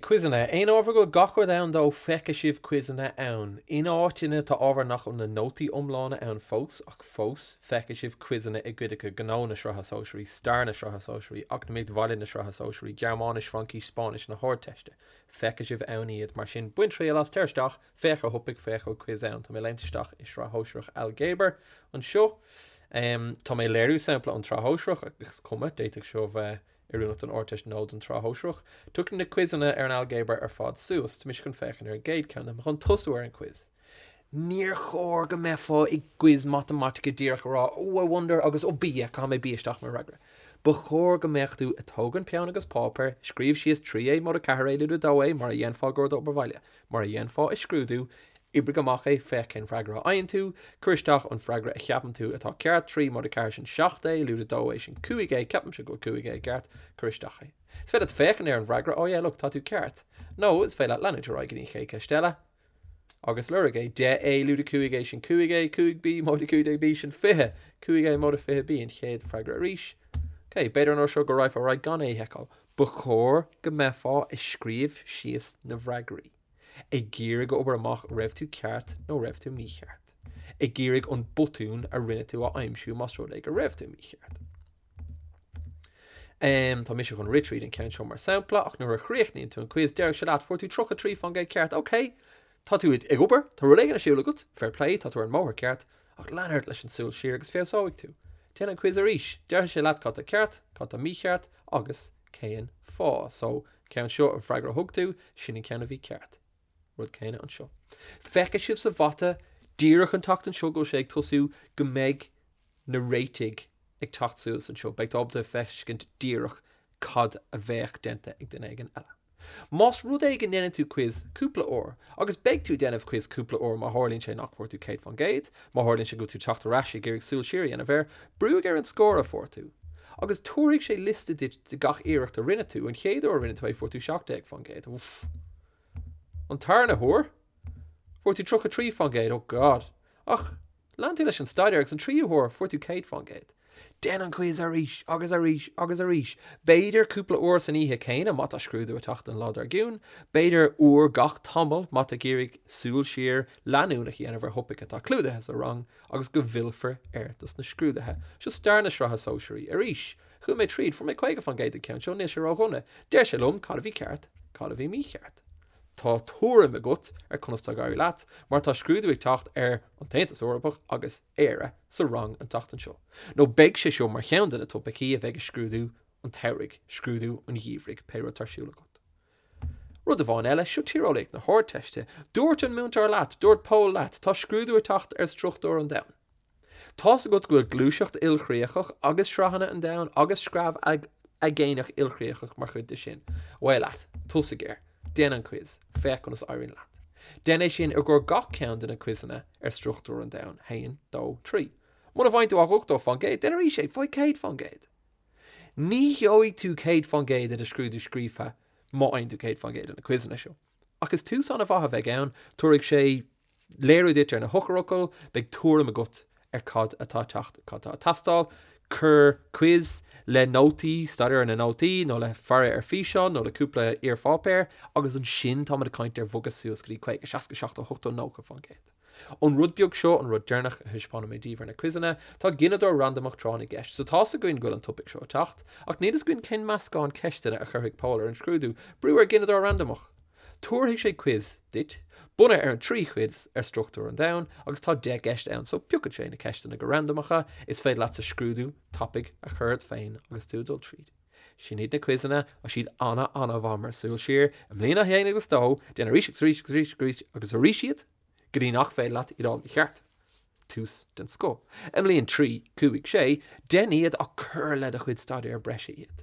Quizeanna, Aon ábhar a bhfuil gach rud ann dó feicfidh sibh quizeanna ann. In áiteanna tá ábhar nach bhfuil na nótaí iomlána ann fós ach fós feicfidh sibh quizeanna i gcuid acu, Gnó na Sraithe Sóisearaí, Stair na Sraithe Sóisearaí, Eacnamaíocht Bhaile na Sraithe Sóisearaí, Gearmáinis, Fraincis, Spáinnis na hArdteiste. Feicfidh sibh ann iad, mar sin bain triail as, téir isteach, féach ar thopaic, féach an quiz ann. Tá mé ag léimt isteach i Sraith Shóisearach Ailgéabar anseo. Tá mé ag léiriú sampla ón tSraith Shóisearach ach is cuma, d'fhéadfadh seo bheith Oiriúnach don Ardteist nó don tSraith Shóisearach? Tiocfaidh na quizeanna ar an Ailgéabar ar fad suas. Tá mise chun féachaint ar an gcéad ceann. Tá mé chun tosú ar an quiz. Níor chóir go mbeifeá i gquiz matamaitice díreach ag rá Oh I wonder agus Oh B, caithfidh mé B isteach mar fhreagra. Ba chóir go mbeadh tú ag tógaint peann agus páipéar, scríobh síos 3 A, móide 4 A, lúide 2 A, mar a dhéanfá i gcomhair d'obair bhaile. Mar a dhéanfá i scrúdú, oibrigh amach é féach cén freagra a fhaigheann tú, cuir isteach an freagra a cheapann tú atá ceart, 3 móide 4 sin 7 A, lúide 2 A sin 5 A, ceapaimse go bhfuil 5 A ceart, cuir isteach é. Is féidir leat féachaint ar an bhfreagra, oh yeah look tá tú ceart! Nó is féidir leat leanúint ar aghaidh go dtí an chéad cheist eile agus lorg é, 10 A, lúide 5 A sin 5 A, 5 B móide 15 B sin 20, 5 A móide 20 B an chéad freagra arís. Okay, b'fhéidir an uair seo go raghfá ar aghaidh gan é a sheiceáil. Ba chóir go mbeifeá ag scríobh síos na bhfreagraí, ag iarraidh obair amach raibh tú ceart nó raibh tú mícheart, ag iarraidh an botún a rinne tú a aimsiú más rud é go raibh tú mícheart. Em, tá mise chun rith tríd an ceann seo mar sampla, ach nuair a chríochnaíonn tú an quiz, déarfaidh sé leat, fuair tú tríocha trí fán gcéad ceart, ok! Tá tú ag obair, tá rud éigin ar siúl agat, fair play, tá tú ar an mbóthar ceart, ach lean ort leis an súil siar agus feabhsóidh tú. Déan an quiz arís, déarfaidh sé leat cad tá ceart, cad tá mícheart agus cén fáth. So, ceann seo an freagra a thug tú, sin an ceann a bhí ceart. Rud céanna anseo. Feicfidh sibh sa mhata díreach an tseachtain seo go bhfuil sé ag tosú go mbeidh na réitigh ag teacht suas anseo, beidh tú ábalta feiscint díreach cad a bheadh déanta ag duine éigin eile. Más rud é go ndéanann tú quiz cúpla uair, agus beidh tú ag déanamh quiz cúpla uair má tharlaíonn sé nach bhfuair tú 100 fán gcéad, má tharlaíonn sé go bhfuil tú ag teacht ar ais ag iarraidh súil siar a dhéanamh air, brúigh ar an scór a fuair tú, agus tabharfaidh sé liosta duit de gach iarracht a rinne tú, an chéad uair a rinne tú é fuair tú 17 fán gcéad, uff. An tarna huair, fuair tú 33 fán gcéad, oh god. Ach, Lean tú leis an staidéar agus an tríú huair fuair tú 100 fán gcéad. Déan an quiz arís agus arís agus arís, b'fhéidir cúpla uair san oíche céanna má tá scrúdú ag teacht an lá dár gcionn, b'fhéidir uair gach tamall má tá ag iarraidh súil siar leanúnach a dhéanamh ar thopaic atá clúdaithe sa rang agus go bhfillfear air dos na scrúdaithe. Seo stair na Sraithe Sóisearaí arís. Chuaigh mé tríd, fuair mé 50 fán gcéad ag ceann seo, níl sé ró-dhona. Deir sé liom cad a bhí ceart, cad a bhí mícheart. Tá tuairim agat ar conas tá ag éirí leat mar tá scrúdú ag teacht ar an tAontas Eorpach agus Éire sa rang an tseachtain seo, nó beidh sé seo mar cheann de na topaicí a bheidh i scrúdú an tsamhraidh, scrúdú an gheimhridh, pé rud atá ar siúl agat. Rud amháin eile, seo Tíreolaíocht na hArdteiste, dúirt an múinteoir leat, dúirt Pól leat, tá scrúdú ag teacht ar struchtúr an domhain. Tá's agat go bhfuil gluaiseacht ilchríochach agus sraitheanna an domhain agus screamh aigéanach, ilchríochach mar chuid de sin. Away leat. Tosaigh air. Déan an quiz. Féach conas a éiríonn leat. Déan é sin i gcomhair gach ceann de na quizeanna ar struchtúr an domhain. Haon. Dó. Trí. Muna bhfaigheann tú ach 80 fán gcéad, déan arís é. Faigh 100 fán gcéad. Ní gheobhaidh tú 100 fán gcéad ina scrúdú scríofa má fhaigheann tú 100 fán gcéad ins na quizeanna seo. Ach is tús ana mhaith a bheidh ann, tabharfaidh sé léiriú duit ar na heochairfhocail, beidh tuairim agat ar cad atá ag teacht, cad atá ag teastáil, cuir quiz le nótaí, staidéar ar na nótaí, nó le faire ar físeán, nó le cúpla iarpháipéar, agus ansin táimid ag caint ar bhogadh suas go dtí 50, 60, 70, 80, 90 fán gcéad. An rud beag seo an rud deireanach a thaispeánfaidh mé daoibh ar na quizeanna. Tá gineadóir randamach tráth na gceist, so tá's againn go bhfuil an topaic seo ag teacht, ach níl fhios againn cén meascán ceisteanna a chuirfidh Pól ar an scrúdú. Brú ar gineadóir randamach! Tabharfaidh sé quiz duit, bunaithe ar an trí chuid ar struchtúr an domhain, agus tá deich gceist ann, so piocfaidh sé na ceisteanna go randamach is is féidir leatsa scrúdú tapaidh a chur ort féin agus tú ag dul tríd. Sin iad na quizeanna tá siad ana ana mhaith mar shúil siar. I mbliain a haon agus a dó, déan arís agus arís agus arís agus arís agus arís iad go dtí nach féidir leat iad a fháil mícheart. Tús den scoth. I mbliain trí, cúig, sé, dein iad ach cuir le do chuid staidéar breise iad.